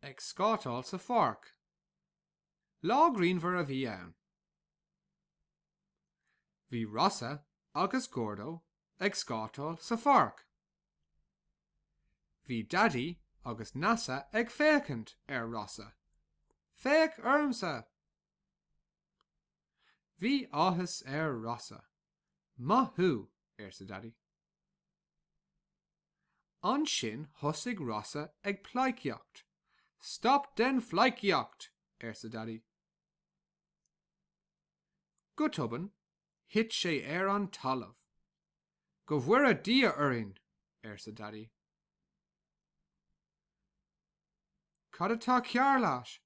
Ag scátáil sa pháirc. Lá grianmhar a bhí ann. Bhí Rossa agus Gordo ag scátáil sa pháirc. Bhí Daidí agus Neasa ag féachaint ar Rossa. Féach ormsa! Bhí áthas ar Rossa. Maith thú! arsa Daidí. Ansin thosaigh Rossa ag pleidhcíocht. Stop den phleidhcíocht! arsa Daidí. Go tobann, thit sé ar an talamh. Go bhfóire Dia orainn! arsa Daidí. Cad atá cearr leat?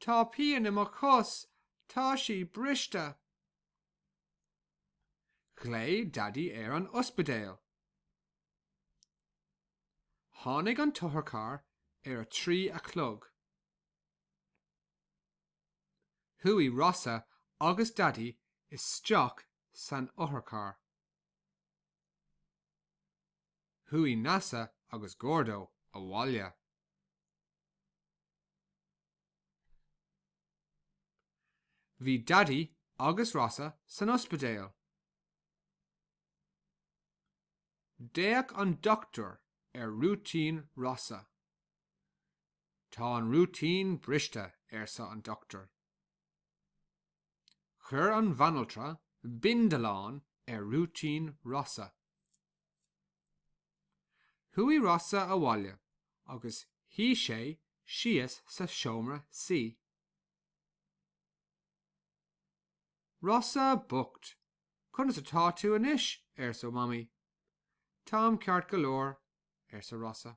Tá pian i mo chos, tá sí briste. Ghlaoigh Daidí ar an ospidéal. Tháinig an t-otharcharr ar a trí a chlog. Chuaigh Rossa agus Daidí isteach san otharcharr. Chuaigh Neasa agus Gordo abhaile. Bhí Daidí agus Rossa san ospidéal. D'fhéach an dochtúir ar rúitín Rossa. Tá an rúitín briste, arsa an dochtúir. Chuir an bhanaltra bindealán ar rúitín Rossa. Chuaigh Rossa abhaile agus shuigh sé síos sa seomra suí. Rossa bocht! Conas atá tú anois? arsa Mamaí. Táim ceart go leor, arsa Rossa.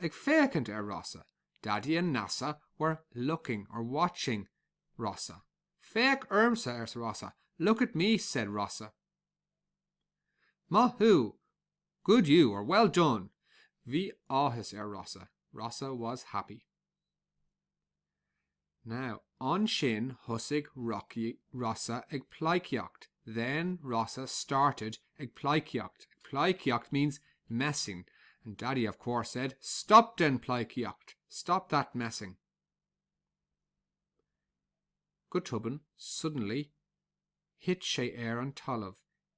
ag féachaint ar Rossa, Daidí an nasa were looking or watching Rossa. Féach ormsa, arsa Rossa, Look at me, said Rossa. Maith thú! Good you, or Well done! Bhí áthas ar Rossa, Rossa was happy. Now, ansin thosaigh Rocky, Rossa ag pleidhcíocht, then Rossa started ag pleidhcíocht, ag pleidhcíocht means messing, and Daddy, of course, said, Stop den pleidhcíocht! Stop that messing! Go tobann, suddenly, thit sé ar an talamh,